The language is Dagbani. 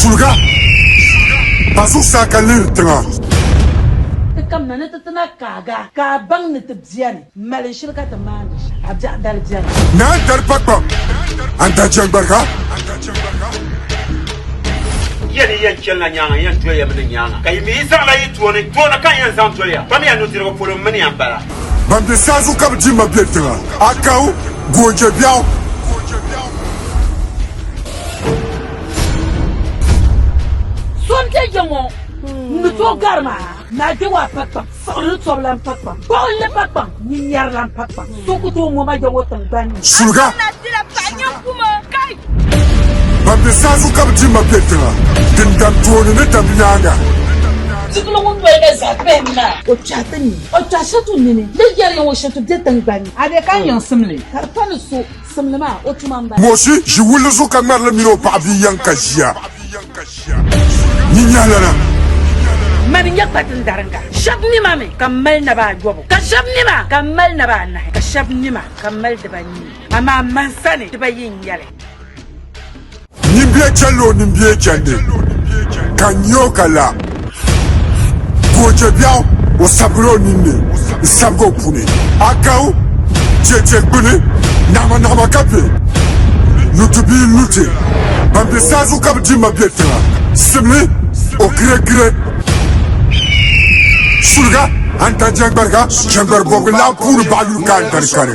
Zuliga ba zuɣusaa ka lihiri tiŋa. Ti kamina ni ti ti na kaaga, ka a baŋ ni ti biɛri mali shili ka ti maandi shɛm. A biɛɣu dali biɛri. Ni a dari pakpam, a ni daa jɛŋgbariga. Yɛn ni yɛn chɛlila nyaaŋa yɛn doliya mi ni nyaaŋa, ka yi mi yi zaɣila yi tooni tooni ka n yɛn zaŋ doliya pam ya nudirigu polo, m mini ya m-bala. Ban be saha zuɣu ka bɛ di ma be tiŋa, a kaw, goonje biɛɣu. So n-te ya ŋɔ ni to gari ma na de wa pa kpam siɣiri ni tɔbu lan pa kpam gbuɣi li pa kpam ni nyɛri lan pa kpam so ku tooi ŋɔ ma ya ŋɔ tiŋgbani ni. Suliga! Ban be saazu ka bi di ma be tiŋa, din dam tooni ni dam nyaaŋa. Tutuno ŋun noli na zaa pahim maa. O kpɛhi ti ni o kpɛhi shɛtu nini ni yɛri ya ŋɔ shɛtu be tiŋgbani ni. A be ka n yiŋsim li ka di pa ni so. Moosi ʒi wulli zuɣu ka ŋmari li mini o paɣa bia yɛŋ ka ʒiya. Nyi nyɛhilana. Mani nyɛ kpatin dariŋga. Shɛb nima mi ka m mali naba ayɔbu, ka shɛb nima ka m mali naba anahi, ka shɛb nima ka m mali dibanii, amaa man sani dibayi n-nyɛ li. Ni bia chɛ lo ni bia chɛndi ka nya o ka la, ka o chɛ biɛɣu o sabigila o ninni n-sabigi o puni. Akau chɛ chɛ gbini naɣimanahima ka bɛ luti bia luti ban be saazuɣu ka bɛ di ma be tiŋa. Simli o giregire suliga antan jɛŋgbariga jɛŋgbari bɔbigu laa puuni baɣa yuli ka antarikani.